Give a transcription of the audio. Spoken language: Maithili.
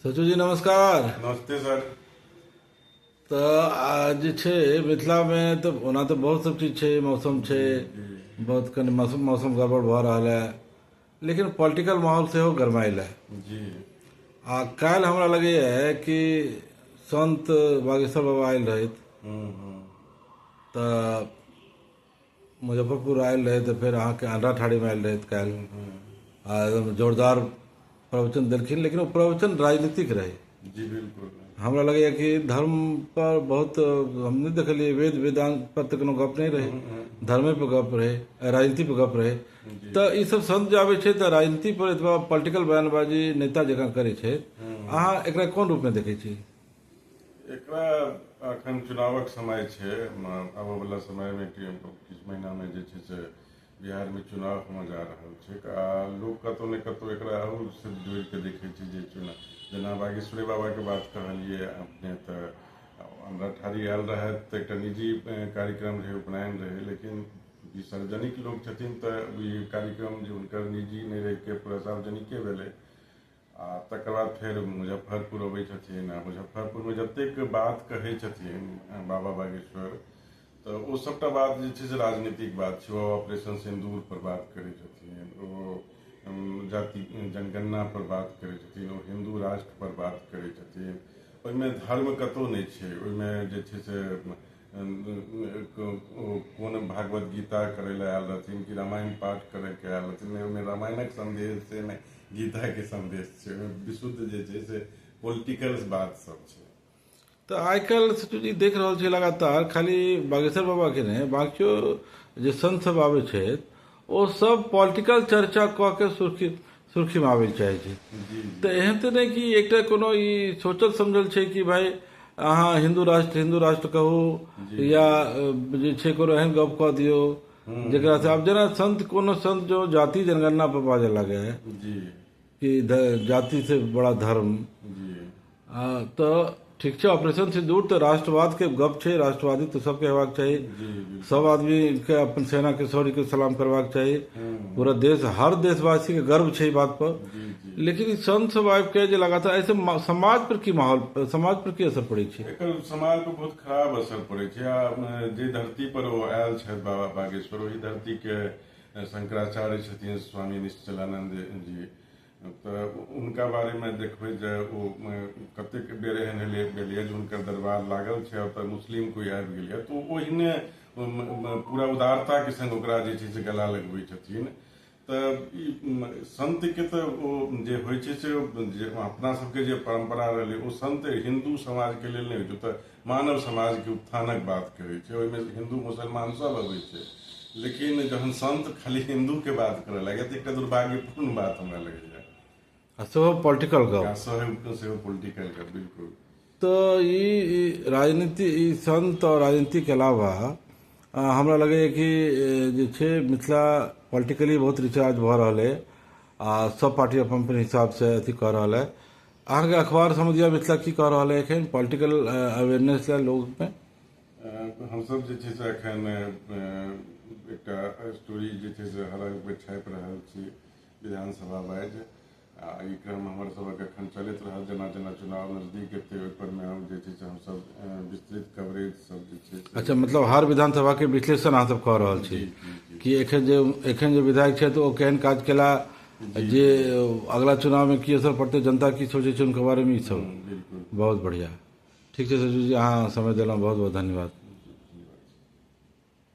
सचू जी नमस्कार नमस्ते सर तो आज जे छै मिथिलामे तऽ ओना तऽ बहुत सब चीज छै मौसम छै बहुत कनि मौसम मौसम गड़बड़ भऽ रहल है लेकिन पॉलिटिकल माहौल सेहो गरमाइल है जी आ काल्हि हमरा लगैए कि संत बागेश्वर बाबा आयल रहथि हम्म, हम्म। तऽ मुजफ्फरपुर आयल रहथि तऽ फेर अहाँके आन्ध्रा ठाड़ीमे आयल रहथि काल्हि आ एकदम जोरदार प्रवचन देलखिन लेकिन ओ प्रवचन राजनीतिक रहै जी बिल्कुल हमरा लगैए कि धर्म पर बहुत हम नहि देखलियै वेद वेदांत पर तऽ कोनो गप नहि रहै धर्मे पर गप रहै राजनीति पर गप रहै तऽ ई सब संत जे आबै छै तऽ राजनीति पर एतबा पॉलिटिकल बयानबाजी नेता जकाँ करै छै अहाँ एकरा कोन रूपमे देखै छी एकरा अखन चुनावक समय छै आबऽ वाला समय में किछु महीना में जे छै से बिहार में चुनाव होने जा रहल छै आ लोक कतौ ने कतौ एकरा और से जोड़ के देखे छै जे चुनाव जेना बागेश्वरी बाबा के बात कहलिए अपने तऽ हमरा ठारी आयल रहे तऽ एकटा निजी कार्यक्रम रहे उपनयन रहे लेकिन ई सार्वजनिक लोक छथिन तऽ ई कार्यक्रम जे हुनकर निजी नहि रहिके पूरा सार्वजनिके भेलै आ तकर बाद फेर मुजफ्फरपुर अबै छथिन आ मुजफ्फरपुरमे जतेक बात कहै छथिन अ, बाबा बागेश्वर तऽ ओ सभटा बात जे छै से राजनीतिक बात छै ओ ऑपरेशन सिंदूर पर बात करै छथिन ओ अम, जाति जनगणना पर बात करै छथिन ओ हिन्दू राष्ट्र पर बात करै छथिन ओहिमे धर्म कतहु नहि छै ओहिमे जे छै से कोन भागवत गीता करै लए आयल रहथिन कि रामायण पाठ करैके आयल रहथिन नहि ओहिमे रामायणक सन्देश छै नहि गीताके सन्देश छै ओहिमे विशुद्ध जे छै से पोलिटिकल बात सब छै तऽ आइ काल्हि से चूँकि देख रहल छियै लगातार खाली बागेश्वर बाबाके नहि बाँकियो जे संत सब आबै छथि ओ सब पॉलिटिकल चर्चा कऽ के सुर्खी सुर्खीमे आबै लए चाहै छै तऽ एहन तऽ नहि कि एकटा कोनो ई सोचल समझल छै कि भाय अहाँ हिन्दू राष्ट्र हिन्दू राष्ट्र कहू या अ, जे छै कोनो एहन गप कऽ दियौ जेकरा से आब जेना संत कोनो संत जो जाति जनगणना पर बाजऽ लागे है जी कि ध- जाति से बड़ा धर्म जी तऽ ठीक छै ऑपरेशन से दूर तऽ राष्ट्रवाद के गप छै राष्ट्रवादी तऽ सबके हेबाक चाही सब आदमी के अपन सेना के शौर्य के सलाम करबाक चाही पूरा देश हर देशवासी के गर्व छै ई बात पर लेकिन ई संत सब आबि के जे लगातार ऐसे मा- समाज पर की माहौल समाज पर की असर पड़े छै एकर समाज पर बहुत खराब असर पड़े छै आ अ, जे धरती पर ओ आयल छथि बाबा बागेश्वर ओहि धरती के अ, शंकराचार्य छथिन स्वामी निश्चलानंद जी तऽ हुनका बारेमे देखबै जे ओ कतेक बेर एहन भेलै भेलैए जे हुनकर दरबार लागल छै ओतऽ मुस्लिम कोइ आबि गेलैए तऽ ओ ओहिने पूरा उदारताके सङ्ग ओकरा जे छै से गला लगबै छथिन तऽ ई सन्तके तऽ ओ जे होइ छै से जे अपना सबके जे परम्परा रहलै ओ सन्त हिन्दू समाजके लेल नहि होइ छै तऽ मानव समाज के उत्थानक बात करै छै ओहिमे हिन्दू मुसलमान सब अबै छै लेकिन जहन संत खाली हिन्दू के बात करऽ लगे तऽ एकटा दुर्भाग्यपूर्ण बात हमरा लगैया आ सेहो पॉलिटिकल गप आ सहयोग सेहो पोलिटिकल के बिल्कुल तो ई ई राजनीति ई संत और राजनीति के अलावा अ, हमरा लगैए कि अ, जे छै मिथिला पॉलिटिकली बहुत रिचार्ज भऽ रहल है आ सब पार्टी अपन अपन हिसाब से अथी कऽ रहल है अहाँके अखबार समझिया मिथिला की कह रहल है एखन पॉलिटिकल अवेयरनेस लए लोग में हमसब जे छै से एखन एकटा स्टोरी जे छै से हर आगू छापि रहल छी विधानसभा वाइज आ ई क्रम हमर सबक एखन चलैत रहल जेना जेना चुनाव नजदीक एतै ओहिपर मे हम जे छै से हमसब विस्तृत कवरेज सब जे छै से अच्छा मतलब हर विधानसभा के विश्लेषण अहाँ सब कह रहल छी कि एखन जे एखन जे विधायक छथि ओ केहन काज केला जे अगला चुनाव में की असर पड़ते जनता की सोचे छे उनके बारे में ई सब बहुत बढ़िया ठीक है सचिव जी अहाँ समय दिलहुँ बहुत बहुत धन्यवाद